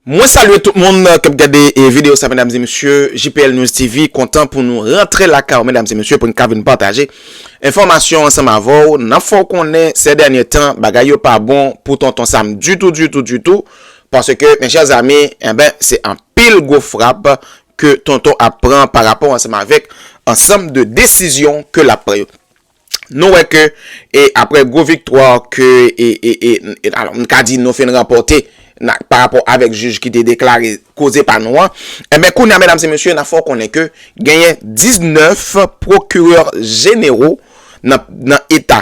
Mwen salye tout moun kap gade video sa medam zi misye JPL News TV kontan pou nou rentre la ka ou medam zi misye pou n ka vin pataje enfomasyon ansanm avou nan fò konnen se dènye tan bagay yo pa bon pou tonton sam ditou ditou ditou paske men chè zami e ben se an pil gwo frap ke Tonton ap pran pa rapò ansanm avèk ansanm de desizyon ke lap pran yo. Nou wè ke aprè gwo viktwa ke nou ka di nou finn ranpòte pa rapò avèk jij ki te deklare koze pa nou an, enben kounye a medam e mesye nap fè w konnen ke genyen 19 pwokirè jenero nan eta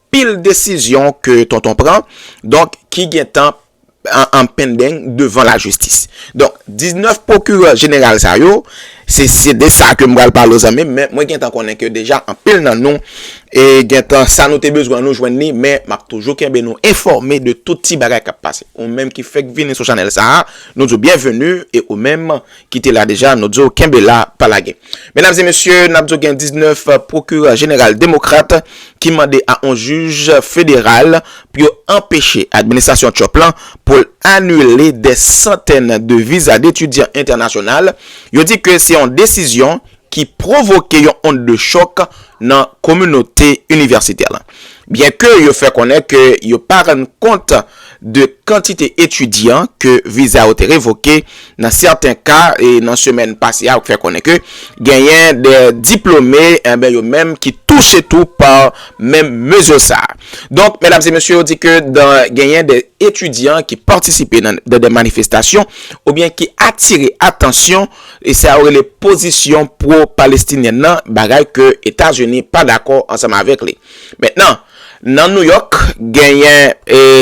Pil desizyon ke tonton pran donk ki gentan an pendeng devan lajistis. Donk 19 pwokirè jeneral sa yo, se de sa ke m pral pale w zanmi m, men mwen gentan konnen ke deja anpil nan nou gentan sa nou te bezwen nou jwenn li men m ap toujou kenbe nou enfòme de tout ti bagay k ap pase. Ou menm ki fèk vini sou chanèl sa a, nou di w byenveni e ou menm ki te la deja nou diw kenbe la pa lage. Medam e mesye nap diw gen 19 pwokirè jeneral demokrat ki mande a on jij federal pou yo anpeche administrasyon Trump lan pou l anile dè santèn de viza detidyan entènasyonal yo di ke se yon desizyon ki pwovoke yon ond de chòk nan kominote inivèsitè lan. Byen ke yo fè konnen ke yo pa rann kont de kantite etidyan ke viza yo te revoke nan sèten ka, e nan semèn pase a yo fè konnen ke genyen de diplome enben yo menm ki touche tou pa menm mezi sa a. Donk, medam e mesye yo di ke dan genyen de etidyan ki patisipe nan de manifestasyon oubyen ki atire atansyon, E sa yo rele pozisyon pwo-palestinyèn nan, bagay ke Etazini pa dakò ansanm avèk li. Mentnan, nan Nouyòk, genyen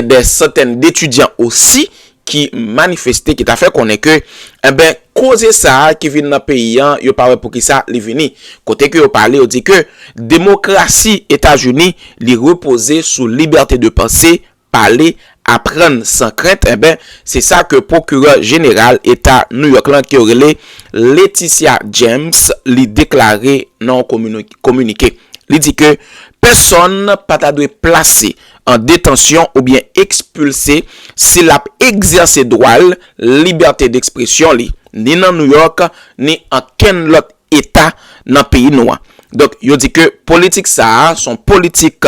dè santèn detidyan osi ki manifeste, ki ta fè konnen ke, enben, koze sa a ki vin nan peyi an, yo pa wè pou ki sa li vini. Kote ke yo pale, yo di ke demokrasi Etazini, li repoze sou libète de panse, pale, aprann san krent enben se sa ke pwokirè jeneral eta New York lan ke yo rele Letitia James li deklare nan yon kominike. Li di ke pèsonn pa ta dwe plase an detansyon oubyen ekspilse si lap egzèse dwa l libète dekspresyon li ni nan New York ni ankenn lòt eta nan peyi nou an. Donk yo di ke politik sa a son politik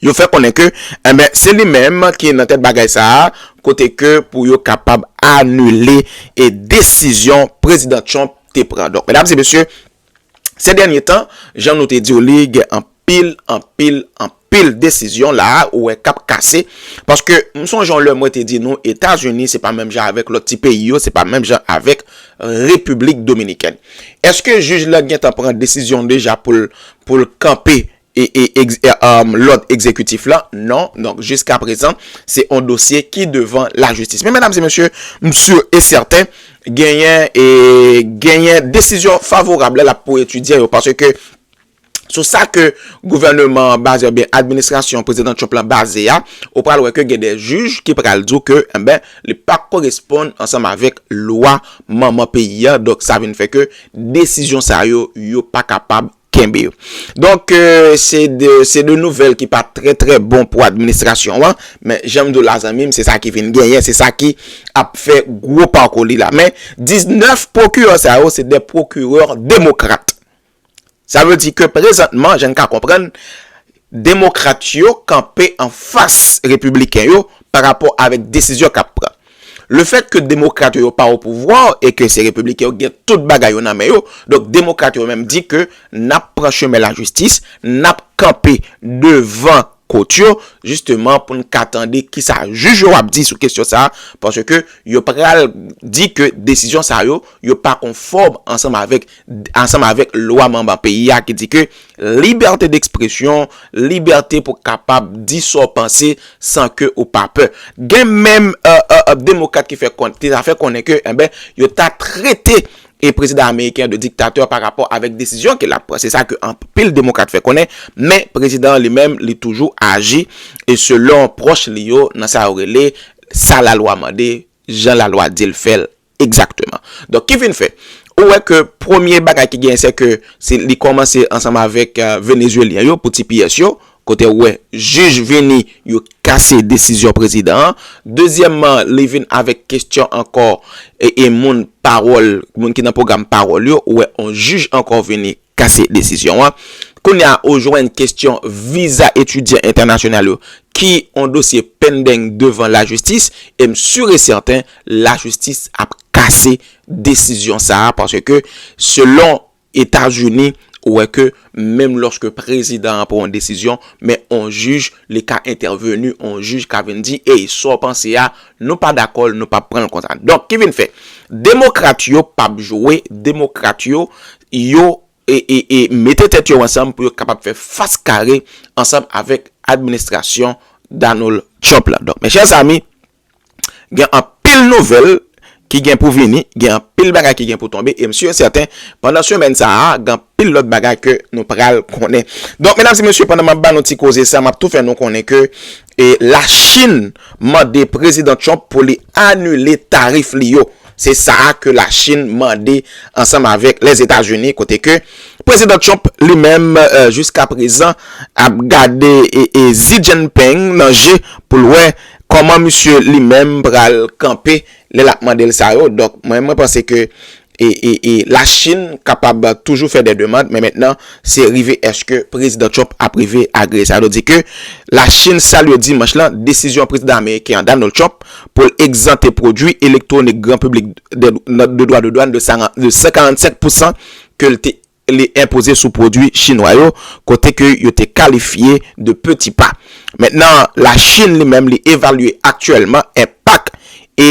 yo fè konnen ke enben se li menm ki nan tèt bagay sa a kote ke pou yo kapab anile e desizyon prezidan Trump te pran. Donk medam e mesye se dènye tan jan nou te diw li gen anpil anpil anpil desizyon la a ou wè kap kase paske m sonje yon lè mwen te di nou Etazini se pa menm jan avèk lòt ti peyi yo se pa menm jan avèk Repiblik Dominikèn. Eske jij la gentan pran desizyon deja pou l kanpe lòd egzekitif la non, donk jiska prezan se yon dosye ki devan lajistis men medam e mesye m si e sèten genyen e genyen desizyon favorab lè l ap pou etidyan yo paske sou sa ke gouvèneman an baze oubyen administrasyon prezidan Trump la baze a ou pral wè ke gen de jij ki pral di w ke enben li pa koresponn ansanm avèk lwa manman peyi a donk sa vin fè ke desizyon sa yo yo pa kapab Kenbe yo. Donk, se de, se de nouvèl ki pa trè trè bon pou administrasyon an, men jan m di w la zanmi m, se sa ki vin genyen, se sa ki ap fè gwo pakou li la. Men, 19 pwokirè sa yo, se de pwokirè demokrat. Sa vle di ke prezantman, jan n ka konprann, Demokrat yo kanpe an fas Repibliken yo pa rapò avèk desizyon k ap pran. Le fèt ke Demokrat yo yo pa opouvwa e ke se Repibliken yo ki gen tout bagay yo nan men yo, donk Demokrat yo menm di ke n ap pran chemen lajistis, n ap kanpe devan kot yo jisteman pou n ka tande kisa jij yo ap di sou kesyon sa a paske yo pral di ke desizyon sa yo yo pa konfòm ansanm avèk ansanm avèk lwa manman peyi a ki di ke libète dekspresyon, libète pou kapab di sa w panse san ke ou pa pè. Gen menm demokrat ki ta fè konnen ke enben yo ta trete prezidan ameriken an de diktatè pa rapò avèk desizyon ke l ap pran. Se sa ke anpil demokrat fè konnen, men prezidan an li menm li toujou aji selon pwòch li yo nan sa yo rele sa lalwa mande, jan lalwa di l fè l. Egzakteman. Donk ki vin fè, ou wè ke premye bagay ki genyen se ke li kòmanse ansanm avèk Venezuelyen yo pou ti piyès yo, kote ou wè jij vini yo kase desizyon prezidan an. Dezyèmman, li vin avèk kestyon ankò e moun pawòl, moun ki nan pwogram pawòl yo, ou wè on jij ankò vini kase desizyon an. Kounye a ou jwenn kestyon viza etidyan entènasyonal yo ki on dosye pendeng devan lajistis e m sur e sèten lajistis ap kase desizyon sa a paske selon Etazini ou wè ke menm lòske prezidan an pran on desizyon men on jij li ka entèveni, on jij ka vin di ey sa w panse a nou pa dakò l nou p ap pran l konsa. Donk ki vin fè demokrat yo p ap jwe demokrat yo yo mete tèt yo ansanm pou yo kapab fè fas kare ansanm avèk administrasyon Donald Trump la. Donk, mèchè zami, gen anpil nouvèl ki gen pou vini, gen anpil bagay ki gen pou tonbe, e m si e sèten, pandan semèn sa a, gen anpil lòt bagay ke nou pral konnen. Donk, medam e mesye, pandan m ap ba nou ti koze sa, m ap tou fè nou konnen ke Lachin mande Prezidan Trump pou li anile tarif li yo. Se sa a ke la Chin mande ansanm avèk Lèzetazini kote ke Prezidan Trump li menm jiska prezan ap gade Xi Jinping nan je pou l wè kòman misye li menm pral kanpe lè l ap mande l sa yo. Donk mwen mwen panse ke la Chin kapab toujou fè dè demand men mentnan se rive eske Prezidan Trump ap rive agreye sa. Yo di ke La Chin salye Dimanch lan desizyon Prezidan Ameriken an Donald Trump pou l egzante pwodui elektwonik gran piblik de dwa de dwàn de 145 pousan ke l te enpoze sou pwodui Chinwa yo kote ke yo te kalifye de peti pa. Mentnan La Chin li menm li evalye aktyèlman enpak e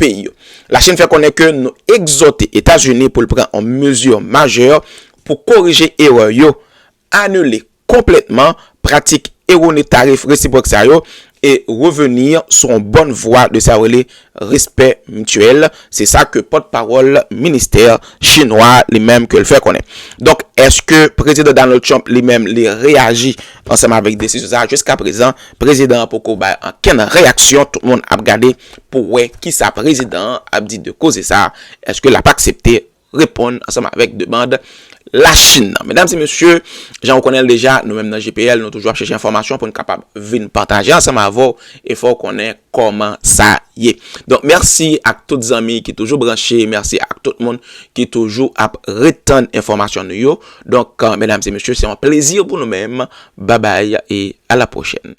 peyi yo. La Chin fè konnen ke nou egzòte Etazini pou l pran yon mezi majè pou korije erè yo, anile konplètman pratik erone tarif resipwòk sa yo e reveni sou yon bòn vwa de sa yo rele respè mityèl, se sa ke pòt pawòl ministè chinwa li menm ke l fè konnen. Donk èske Prezidan Donald Trump li menm li reyaji ansanm avèk desizyon sa a? Jiska prezan prezidan an poko bay ankenn reyaksyon, tout moun ap gade. pou wè kisa prezidan an ap di de koze sa, eske lap aksepte reponn ansanm avèk demand la Chine nan. Medam e mesye, jan ou konnenl deja, nou menm nan JPL nou toujou ap chèche enfòmasyon poun kapab vin pataje ansanm avèw e fè w konnen kòman sa ye. Donk mèsi ak tout zanmi ki toujou branche, mèsi ak tout moun ki toujou ap ret tann enfòmasyon nou yo. Donk medam e mesye se yon plezi pou nou menm. Babay e a la pwochèn.